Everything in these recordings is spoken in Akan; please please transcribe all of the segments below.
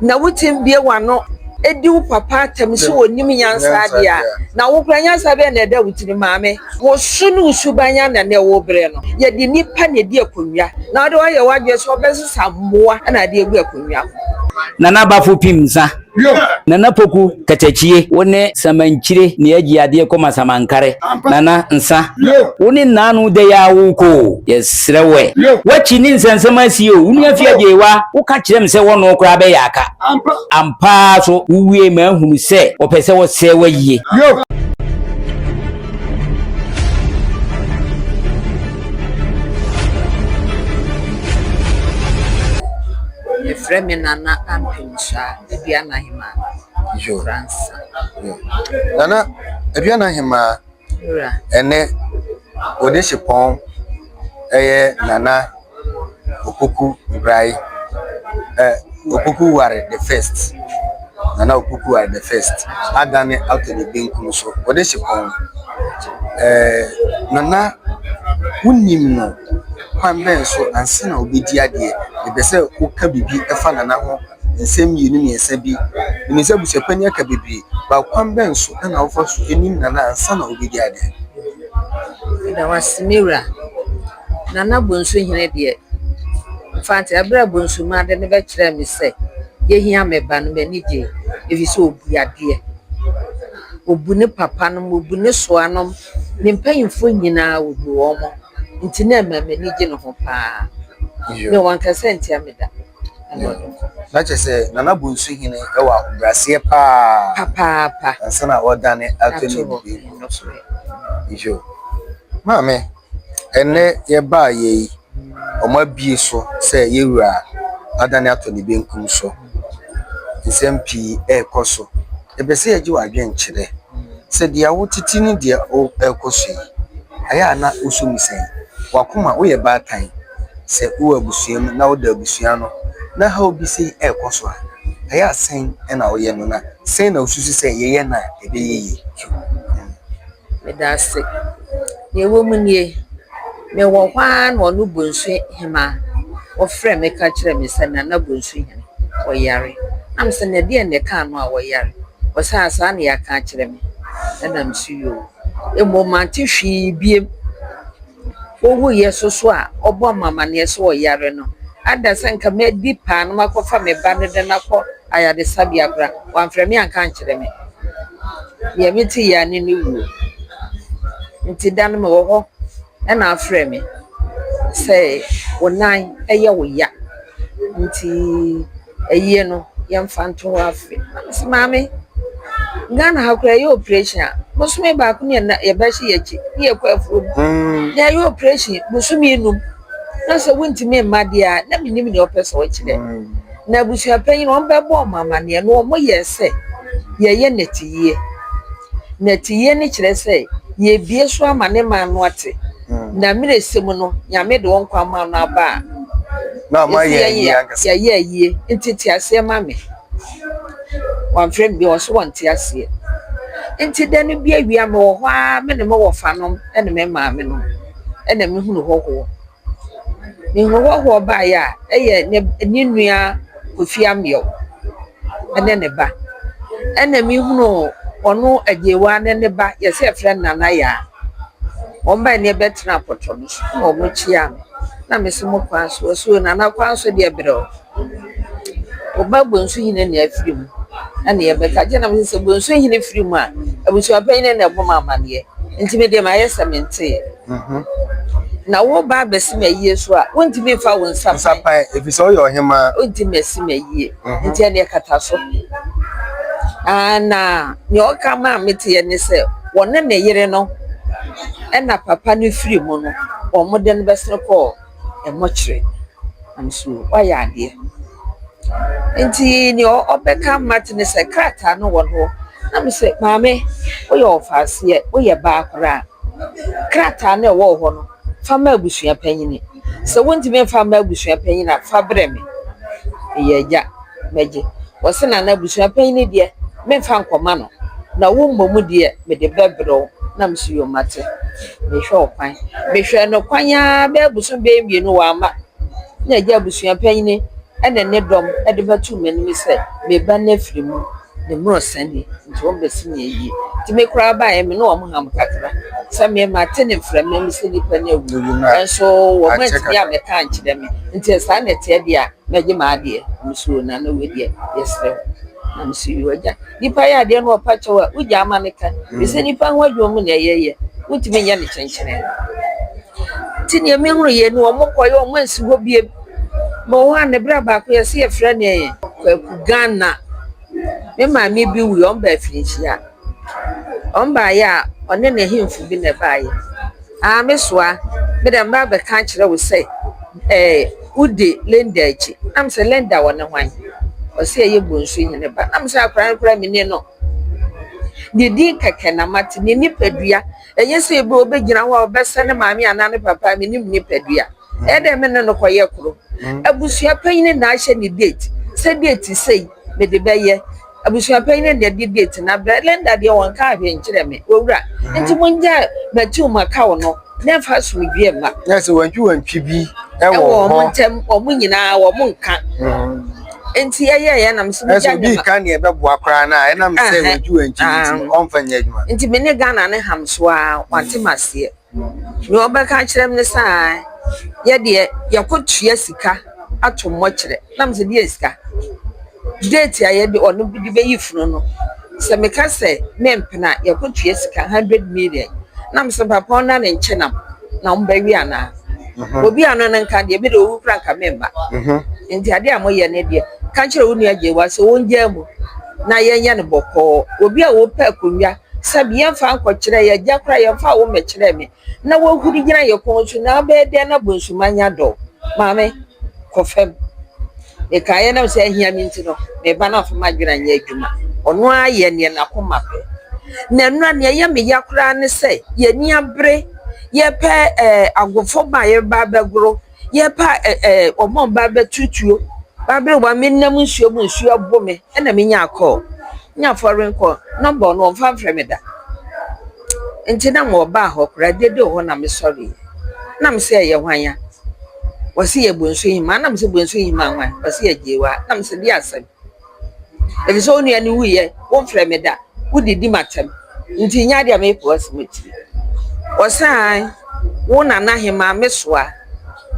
Na wutumi bue w'ano di wo papa atɛm sɛ onnim nyansa de a, na wo koraa nyansa bɛn na ɛda wo tirim? Maame, wo su ne wo suban anan na ɛwɔ wo bere no. Yɛde nnipa na edi akonnwa, na wode ayɛ w'adwene sɛ wobɛsesa mmoa na ade agu akonnwa ho. Nana Bafo Pim Nsa, Nana Poku Katakyie, wo ne Samankyire ne Agyi Adeɛ Koma Samankare, Nana Nsa, wo ne Nnaano Dɛyɛ Awo Koo, yes. Serɛ woɛ. Woakyi ne nsɛnsɛm asie o. Wo nua fi agyee wa, wo ka kyerɛ me sɛ wɔnoo koraa bɛyɛ aka. Ampaa so wo wiee maa nhunu sɛ wɔpɛ sɛ wɔ sɛɛ wayie. Frɛ me Nana Ampemsah Aduana Hemaa Fransa. Nana Aduana Hemaa Ɛnnɛ, Onisipɔn yɛ Nana Opoku Nbraye, ɛ Opoku Ware the First, Nana Opoku Ware the First, adan no ato ne benkum so. Onisipɔn, ɛɛ Nana, wonim no kwan bɛn so ansa na wobɛdi adeɛ? Mepɛ sɛ woka biribi fa Nana ho Nsɛm mmienu mmiɛnsa bi. Menim sɛ abusuapɛn yi aka bebree. But kwan bɛn so na wofa so nim Nana ansa na wobɛdi ade? Meda wo ase me wura. Nana Bonsuhene deɛ, mfante berɛ a Bonsumaa de no bɛkyerɛɛ me sɛ yɛhia me ba no, m'ani gyee ɛfiri sɛ ɔbu adeɛ. Ɔbu ne papa nom, ɔbu ne soa nom, ne mpanimfoɔ nyinaa ɔbu wɔn. Nti na ɛma m'ani gye ne ho paa. Mewɔ nkasaantia meda. Na kyerɛ sɛ Nana Bonsu hene wɔ ahobrɛaseɛ paa papaapa ansa na ɔredane ato ne nnuane so yo maame ɛnɛ yɛbaa yɛ yi wɔn abie so sɛ yɛwura adane ato ne benkum so nsɛm pii ɛrekɔ so. Epɛ sɛ egye w'adwen kyerɛ sɛ deɛ wo tete ne deɛ o ɛrekɔ so yi ayɛ a na wo so mu sɛn? W'akoma wo yɛ baatan sɛ wo wɔ abusua mu na wo da abusua ano na haw bi sɛn ɛrekɔ so a ayɛ a sɛn na wo yɛ no na sɛn na wo susu sɛ yɛ yɛ no a ɛbɛyɛ yie? Meda ase. Nea ɛwɔ mu nie, mewɔ hɔ ara na ɔno Bonsu hemaa, ɔfrɛɛ me ka kyerɛɛ me sɛ Nana Bonsu hene, ɔyare. Na me se, na ɛdeɛn na ɛkaa no a ɔyare? Ɔse, ah, saa na yɛaka akyerɛ me. Ɛna me se, yoo. Mmom mante hwee bio. owuiɛ so so a ɔbɔɔ me amaneɛ sɛ ɔyare no. Adɛn sɛ anka mɛdi paa na makɔfa me ba no de no akɔ ayaresabea koraa? Wamfrɛ me anka ankyerɛ me. Deɛ mete yea ne ne wuo. Nti da no mewɔ hɔ na afrɛ me sɛ wo nan yɛ wo ya nti. ayie no yɛmfa nto hɔ afe. Na me se maame Ghana ha koraa yɛyɛ operation a bosome baako ne yɛnan yɛba hyɛ yɛn akyi ne yɛkɔ afuom. Na yɛyɛ operation bosome num na sɛ wontumi mma deɛ a na menim deɛ ɔpɛ sɛ ɔkyerɛ. Na abusuapanyin no wɔbɛbɔ wɔn amanneɛ na wɔyɛɛ sɛ yɛyɛ nnɛteyie. Nnɛteyie no kyerɛ sɛ yɛrebue so ama ne man no ate. Na mmerɛ ɛsɛ mu no, Nyame de wo nkwa maa no aba a, ɛsi yɛn yɛ yɛayɛ ayie, nti te aseɛ ma me. Wamfrɛ me bio, ɔse wɔnte aseɛ. Nti da no bi awia me wɔ hɔ ara me ne me wɔfa nom ne me maame nom ɛna me hunu hɔhoɔ. Me hunu hɔhoɔ baeɛ a ɛyɛ ne nua. Kofi Ameaw ne ne ba, ɛna mehunuu ɔno Agyewaa ne ne ba, yɛsɛ yɛfrɛ no Nana Yaa. Wɔn bae na yɛbɛtenaa pɔtɔ no so na wɔkyiaa me na mese mo kwan so, wɔse o Nana kwan so deɛ brɛ o, wo ba Bonsuhene na afiri mu na yɛbɛka agye na mese sɛ Bonsuhene firi mu a, abusuapanyin no na ɛbɔ me amaneɛ nti medeɛ mayɛ sɛ menteeɛ. Na woreba abɛsi me ayie so a, wontumi mfa wo nsa pan. Nsa pan, ɛfiri sɛ woyɛ ɔhemmaa. Wontumi asi me ayie. Nti ɛnneɛ kata so. Na nea ɔka maa meteɛ ne sɛ, wɔne ne yere no na papa no firi mu no, wɔde no bɛsene kɔɔ. mmɔkyerɛ nanso wayɛ adeɛ. Enti deɛ ɔbɛka Marthe ne sɛ, krataa no wɔ ne hɔ? Na me se, maame, woyɛ ɔfaaseɛ, woyɛ baa koraa. Krataa no a ɛwɔ wo hɔ no, fa ma abusua panin. Sɛ wontumi mfa mma abusua panin a, fa brɛ me. Meyɛ agya. mɛgye. Ɔse na n'abusua panyin no deɛ menfa nkɔma no na wo mmom deɛ mede bɛbrɛ wo na mese yoo mate. Mehwɛ ɔkwan. Mehwɛɛ no kwan aa bɛyɛ bosom bɛyɛ mmienu wamma na agya abusua panyin ɛne ne dɔm ɛde bɛtoo m'anim sɛ me ba no afiri mu ne mmorɔ sa ni nti wɔn bɛsi me ayie. Nti me koraa baeɛ me ne wɔn ham kakra sɛ me mate ne mframa mu sɛ nipa no awu nanso wɔn antumi ammɛka ankyerɛ me nti sɛ saa na ɛteɛ deɛ a Mɛgye m'adeɛ, mesuro no anaa wei deɛ yɛsrɛ wo na mesuro yi w'agya nipa yɛ adeɛ na ɔpa kyɛw a wogyaa ma no ka ɛsɛ nipa ho adwuma mu na ɛyɛ yɛ wontumi nyɛ no kyenkyenee nti neɛ mehunu yɛ ni wɔn kɔ yɛ wɔn ansi hɔ bie ma wɔn a ne berɛ baako yɛsɛ yɛfrɛ neɛ yɛ kwaku Ghana me maame bi wui wɔn baa afirinhyia. Wɔn baeɛ a, wɔne n'ahemfo bi na ɛbaeɛ. Aa me soa, me deɛ mɛba abɛka akyerɛ wo sɛ ɛɛ wodi Linda akyi. Na me sɛ, Linda wɔne hwan? Ɔse ɛyɛ Bonsu hene ba. Na me sɛ akwadaa no koraa mennim no. Ne din kɛkɛ na mate, ne nipadua. Ɛnyɛ sɛ ebia ɔbɛgyina hɔ a ɔbɛsɛ ne maame anaa ne papa a, mennim ne nipadua. Ɛyɛ dɛ me ne no kɔyɛ koro. Abusua panyin na ahyɛ ne date. Sɛ date sei, mede bɛyɛ. Abusua panyin no deɛ gye date na brɛ. Linda deɛ wɔnkaa hwee nkyerɛɛ me. Owura, nti mongyaa Matiu Makau no na ɛmfa asomdwoeɛ mma. Nɛ sɛ wantwiwantwi bi wɔ hɔ. Ɛwɔ wɔn ntam, wɔn nyinaa wɔnka. Nti ɛyɛeɛ na mesɛ mogya nyɛ ma. Ɛsɛ obi ka neɛ ɛbɛboa koraa no a, ɛnam sɛ wantwiwantwi nti ɔmfa nyɛ adwuma. Nti me ne Ghana no ham so ara, wɔante m'aseɛ. Nea ɔbɛka akyerɛ me ne sɛ aa yɛ deɛ yɛkɔtua sika ato mmɔkyerɛ. Na mese deɛn sika? Date a yɛde ɔno de bɛyi funu no, sɛ meka sɛ mempene a yɛkɔtua sika hundred million. Na mese papa ɔno na ne nkyenam na wɔbɛwe anaa? Obi a ɔno ne nka deɛ me deɛ ɔwu koraa nka memma. Nti adeɛ a moyɛ no deɛ ka kyerɛ wo nua Gyewaa sɛ ɔngyaa mu na yɛnyɛ no bɔkɔɔ. Obi a ɔpɛ akonnwa Sɛbi yɛmfa nkɔ kyerɛ yɛ gya koraa yɛmfa wo mɛ kyerɛ me na wahuri gyina yɛ kɔn so na abɛyɛ dɛn na bonsuma nya dɔ maame kɔ fam mekaa yɛ nam sɛ ahia me nti no me ba no amfa m'adwene anyɛ adwuma ɔno ara yɛ neɛ n'akoma pɛ na nnura neɛ yɛ me ya koraa ne sɛ yɛni abere yɛpɛ ɛɛ agofo ba yɛba bɛgoro Yɛrepa ɛ ɛ wɔn a wɔba abɛto tuo. Baaber wɔn me nam nsuo mu nsuo ɔbo me ɛna me nyaa kɔɔl. Nya fɔren kɔɔl nɔmba no wɔn fa mfrɛ me da. Nti na mewɔ baa hɔ koraa ɛdeɛ de wɔ hɔ na me sɔre yɛ. Na me se ɛyɛ hwan ya? Wɔse yɛ bonsu hemaa na me se bonsu hemaa hwan? Wɔse yɛ gyeewaa na me se deɛ asɛm. Efisɛ wo nua no wuiɛ, womfrɛ me da, wodidi m'atɛm, nti nya deɛ meepɛ w'asɛm atiri. Ɔsaan wo nana hemaa me soa,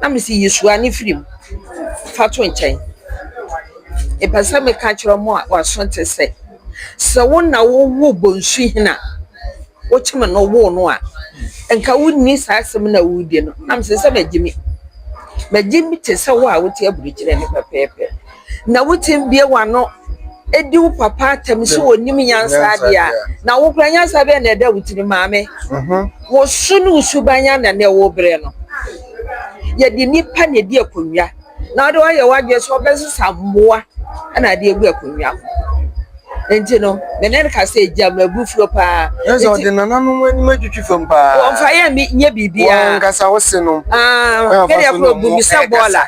na mese yi soa no firi mu, fa to nkyɛn. Mepɛ sɛ meka kyerɛ mo a wɔaso te sɛ, sɛ wo na wowoo Bonsuhene a wokyem no woo no a, nka wonni saa asɛm no a woredi no, na mese sɛ magyimi. Magyimi te sɛ wo a wote aburukyire no pɛpɛɛpɛ. Na wo tsim bue w'ano di wo papa atam sɛ onnyim nyansa adze a, na wo koraa nyansa bɛn na ɔda wo tsirmu? Maame, wo su no wo suban ana na ɔwɔ berɛ no? Yɛde nnipa na edi akonnwa, na wode woayɛ w'adwene sɛ wobɛsesa mmoa na ade agu akonnwa ho. Enti no, me ne no ka sɛ, 'Gya m'abufuo paa. Kyerɛ sɛ, ɔde nananom anim atwitwi fam paa. Wɔmfa yɛn nyɛ biribiara. Wɔn ankasa wose no. Ah, me deɛ koro bu me sɛ bɔɔla.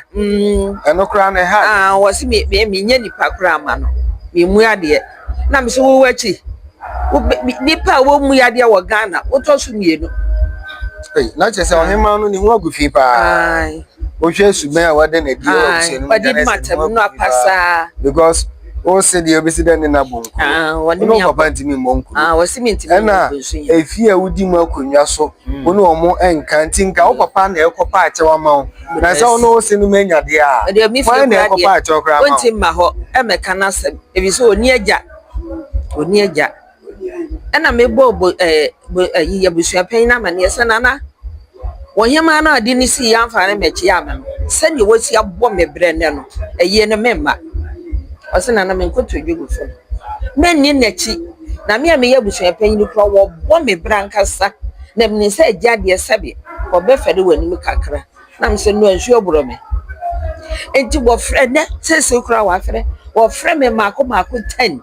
Ɛno koraa na ɛha. Ah, wɔse me me menyɛ nipa koraa ma no. Memu adeɛ. Na me so wowɔ akyi. Nipa a wɔmu adeɛ wɔ Ghana, wotɔ so mmienu. Na kyerɛ sɛ ɔhemaa no ne ho agu fi paa. Wohwɛ subɛn a wɔde no adi wɔ abusua no mu. Wɔde di matam no apasaa. Because wo se deɛ wobɛsi dɛ ne nabɔ nkuro wo ne wo papa ntumi mmɔ nkuro ɛna ɛfie a wodi mu akonnwa so wo ne ɔmo ɛnka nti nka wo papa na ɛkɔpa akyɛw ama wo na sɛ wo ne wo se no ma anya deɛ a wan na ɛkɔpa akyɛw koraa ma wo ɛmɛka no asɛm ɛfiri sɛ ɔni agya ɔni agya Ɛna mebɔɔ bo ɛɛ bo ɛyi abusua panyin no amaneɛ sɛ nana ɔhemaa no a ɔde no sii anfa ne mɛgye ama no sɛdeɛ wasi abɔ me brɛ nnɛ no ayie no meremma ɔse nana menkɔtɔ dwa gu fam mɛnni n'akyi na me a meyɛ abusua panyin koraa wɔbɔ me brɛ ankasa na menim sɛ agya deɛ sɛbe ɔbɛfɛre w'anim kakra. Na mesɛ no nsuo aborɔ me. Enti wɔfrɛ nɛ seesei koraa wɔafrɛ wɔfrɛ me mmaako mmaako ten.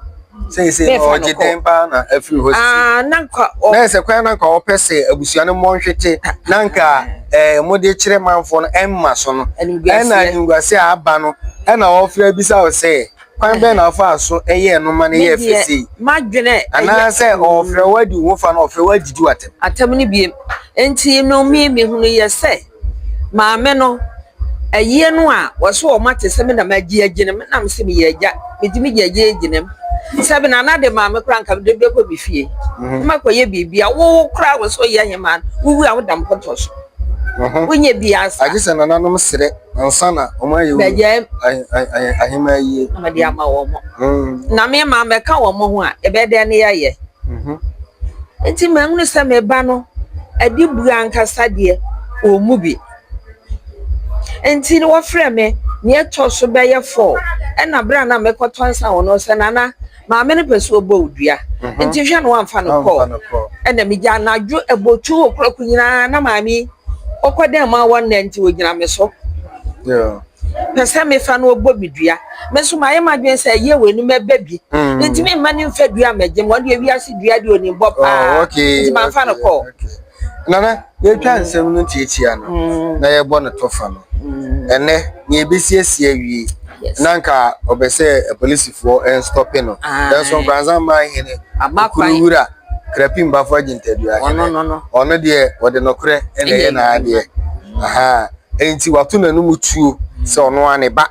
Seesei na ɔgye dɛn paa na afiri hɔ sisi. Ah, na nka ɔ. Na ɛsɛ kwan na nka ɔpɛ sɛ abusua no mmɔ nhwete na nka ɛɛ mode kyerɛ manfoɔ no ɛmma so no. Ɛna animguaseɛ a aba no ɛna ɔfrɛ bisa wo sɛ. Kwan bɛn na ɔfaa so yɛɛ no ma no yɛɛ fɛ sei? M'adwene Anaasɛ ɔfrɛ wo adi wo ho fa na ɔfrɛ wo agyigye wo atɛm? Atɛm no biem. Enti no me mehunu yɛ sɛ maame no ayie no a wɔso wɔn ate sɛ me na magye agye no me na mese meyɛ agya mede me gya gye agye no sɛ me na na de maame koraa nka mede bɛkɔ me fie mhm. na makɔyɛ biribi a wo koraa wɔ sɛ ɔyɛ hemaa wowu a woda mpɔtɔ so mhm. wonyɛ biaa saa agye sɛ nananom serɛ Ansa na wɔn ayɛ wɔn ahemmaa yie. Na wɔde ama wɔn. Na me ma mɛka wɔn ho a, ɛbɛyɛ dɛn ne yɛayɛ? Nti mahunu sɛ me ba no adi buo ankasa deɛ wɔn mu bi. Nti wɔfrɛ me nea ɛtɔ so bɛyɛ four, ɛna berɛ a na mekɔtɔ nsa wɔ no, ɔsɛ Nana. Maame no pɛ sɛ ɔbɔ wo dua, nti hwɛ na wamfa no kɔɔ. Ɛna megya anadwo abotwo okurɔko nyinaa na maame yi ɔkɔ dɛn ma wɔ nnɛ nti ɔgyina me so. Pɛ sɛ mefa no ɔbɔ me dua. Me nso mayɛ m'adwene sɛ ɛyɛ wɔ anim ɛbɛ bi. Ntumi mma no mfa dua mmɛgye me. Ɔno deɛ wiase dua deɛ ɔnim bɔ paa nti mamfa no kɔɔ. Nana, yɛretwa nsɛm no tiatia no na yɛrebɔ no tɔfa no, ɛnnɛ nea ebesiesie awie na nka ɔbɛ sɛ apolisifoɔ nstɔpe no, nanso Nkoranzaman hene Okunuwura Krapim Bafo Agyintadua hene, ɔno deɛ ɔde nokorɛ na ɛyɛ n'adeɛ, ahaa, enti wato n'anom tuo sɛ ɔno ara ne ba.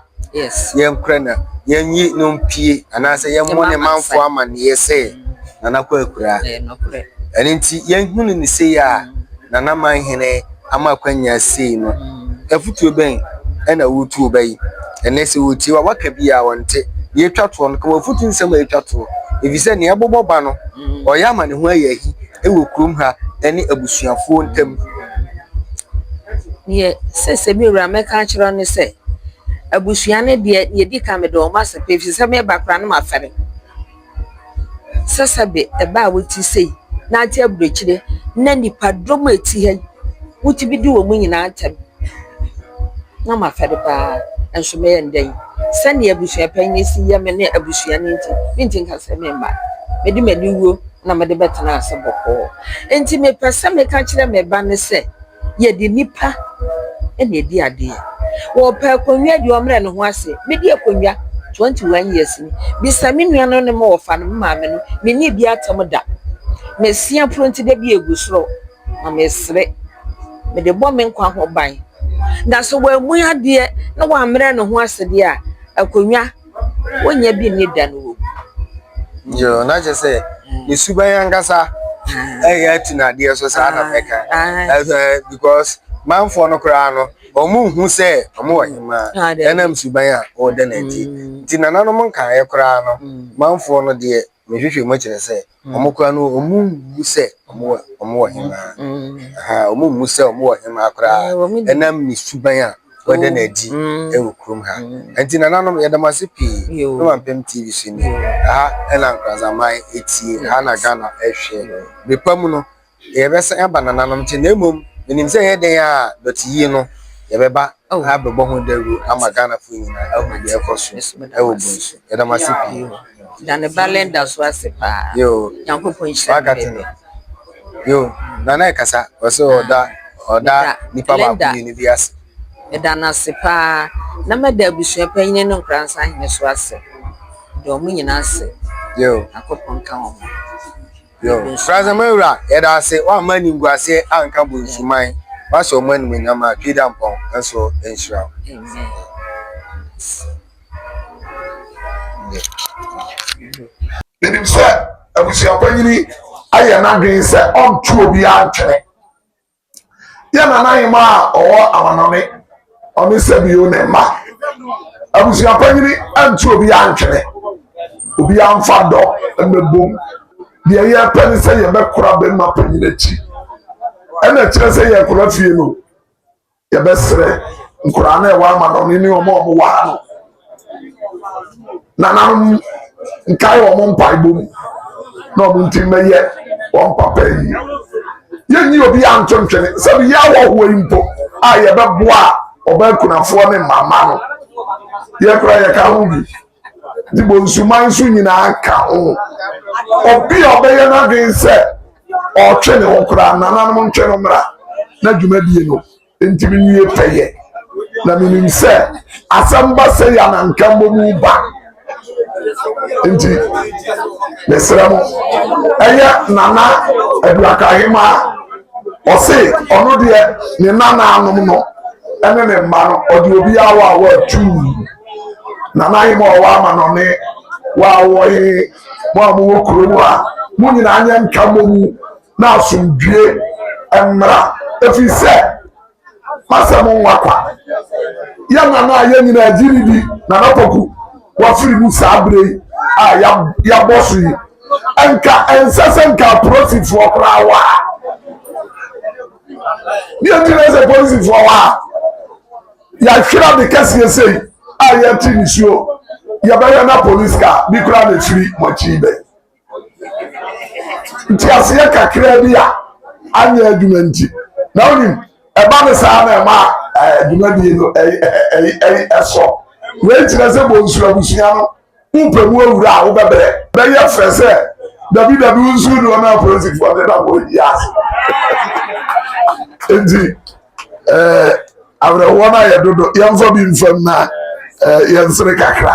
yɛnkora no, yɛnyi no mpue anaasɛ yɛmmɔ ne manfo amanneɛ sɛ Nana Kwaku akuraa. Ɛno nti yɛhunu no sei a Nana Manhene ama akwanya sei no, afutuo bɛn na woretu wo ba yi? Ɛnnɛ sɛ wɔtie wo a, woaka bi a ɔnte. Deɛ ɛtwa toɔ no, ka w'afutu nsɛm a ɛtwa toɔ. Ɛfiri sɛ deɛ ɛbobɔ ba no, ɔyɛ ama ne ho ayɛ ahi. wɔ kurom ha ne abusuafoɔ ntam. Deɛ sese me wura mɛka akyerɛ no sɛ, abusua no deɛ deɛ ɛdi kan mede wɔn asɛ pɛ ɛfiri sɛ meba koraa na mafɛre. Sɛsɛbe ɛba a wote sei na ate aburokyire na nnipadɔm a ɛte ha yi, wotumi di wɔn nyinaa ntɛm. na mafa no paa nso mɛyɛ no dɛn? Sɛnea abusua panyin no si yɛ me ne abusua no nti, merenti nka sɛ meremma. Mede m'aniwuo na mede bɛtena ase bɔkɔɔ. Enti mepɛ sɛ meka kyerɛ me ba no sɛ, yɛde nnipa na ɛdi adeɛ. Ɔrepɛ akonnwa deɛ, ɔmmrɛ ne ho ase. Medi akonnwa 21 years ni. Bisa me nuanom ne me wɔfa no, me maame no, menni bi atam da. Mesia puro nti da bi ɛgu soro. na mesere. Mede bɔ me nkwa ho ban. Na sɛ wammu adeɛ na wammrɛ ne ho ase deɛ a, akonnwa ɔnnya bi nni da no wɔ mu. Yoo, na kyerɛ sɛ ne suban ankasa ɛyɛ atu no adeɛ so saa na mɛka. Ɛsɛ because manfoɔ no koraa no, wɔn nhu sɛ wɔn wɔ hemaa. Ɛnam suban a ɔda no nti. Nti nananom nkaeɛ koraa no, manfoɔ no deɛ. mehwehwɛ mu kyerɛ sɛ wɔn kora no wɔn mmu sɛ wɔn wɔ hemaa wɔn mmu sɛ wɔn wɔ hemaa koraa ɛnam ne suban a wɔde na adi wɔ kurom ha nti nananom yɛda mo ase pii na wampem tv so ni ha ɛna nkorazaman etie ha na ghana ɛhwɛ bepa mu no deɛ yɛbɛsan aba nananom nkyɛn na mmom menim sɛ ɛyɛ dɛn a dɔte yie no yɛbɛba oh. na abɛbɔ ho dawuro ama ghanafoɔ nyinaa ahu deɛ ɛkɔ so ɛwɔ bu nso yɛda mo ase pii da ne ba lenda so ase paa yoo nyankopɔn nhyira wakate no yoo nana ɛkasa ɔsɛ ɔda ɔda nipa baako mmienu bi ase ɛda no ase paa na mɛda abusua panyini no nkora nsa hene so ase dɔɔ mo nyinaa ase yoo nyankopɔn ka wɔn Nsuasɛm Wura, yɛda ase, woamma animguaseɛ anka bonsuman, woahyɛ ɔmo animuonyam a, Twi Dampɔn nso nhyira wo. Menim sɛ abusuapanyini ayɛ n'adwene sɛ ɔnto obiara ntwene. Yɛ nanahemaa a ɔwɔ amanɔne, ɔne Sɛbio ne mma. Abusua panyini antu obiara ntwene, obiara mfa dɔ mmɛbom. Deɛ yɛpɛ ne sɛ yɛbɛkora bɛrima panyin akyi. Ɛna ɛkyerɛ sɛ yɛkora fie no, yɛbɛsrɛ nkoraa no a ɛwɔ amanɔne ne wɔn a wɔwɔ ha no nananom nkae wɔn mpaebɔ mu na wɔn nti mmɛyɛ wɔn papa yi yɛnyi obi a nto ntwene sɛbi yɛ awɔhoɔ yi mpo a yɛbɛboa a ɔbaa kunafoɔ ne mama no yɛkora yɛka ho bi nti bɔ nsuman nso nyinaa ka ho obi a ɔbɛyɛ n'adwene sɛ ɔtwe ne ho koraa nananom ntwe no mmra na dwumadie no Enti menwie pɛyɛ, na menim sɛ asɛm ba sɛ yɛ ananka mmɔ mu ba. Enti mesrɛ mo, ɛyɛ Nana Aduakahema ɔse ɔno deɛ ne nanaanom no ɛne ne mma no ɔde obi awa a wɔatuu Nana Ahema ɔwɔ ama no ne wɔawɔ he mo a mowɔ kurom a mo nyinaa nyɛ nka mmɔ mu na asomdwoe mmra, ɛfiri sɛ masɛ mo nwa kwa. Yɛ nana a yɛ nyinaa gye ne di, Nana Poku, wafiri mu saa berɛ yi a yɛabɔ so yi. Nka ɛnsɛ sɛ nka apolisifoɔ koraa wɔ ha. Deɛ nti na sɛ polisifoɔ wɔ ha, yɛahwera de kɛseɛ sei a yɛte nisuo, yɛbɛyɛ na polisi ka bi koraa na ɛfiri mo akyi bɛ. nteaseɛ kakra bi a anyɛ adwuma nti na wonim ɛba ne saa na ɛma dwumadie no ɛsɔ wei kyerɛ sɛ bonsu abusua no wopɛ mu awura a wobɛbrɛ bɛyɛ frɛ sɛ dabi dabi wonsu doɔ no apolisifoɔ ne na wɔyi ase nti Eh, awerɛhoɔ no ayɛ dodo yɛmfa bi mfam na eh, yɛnsere kakra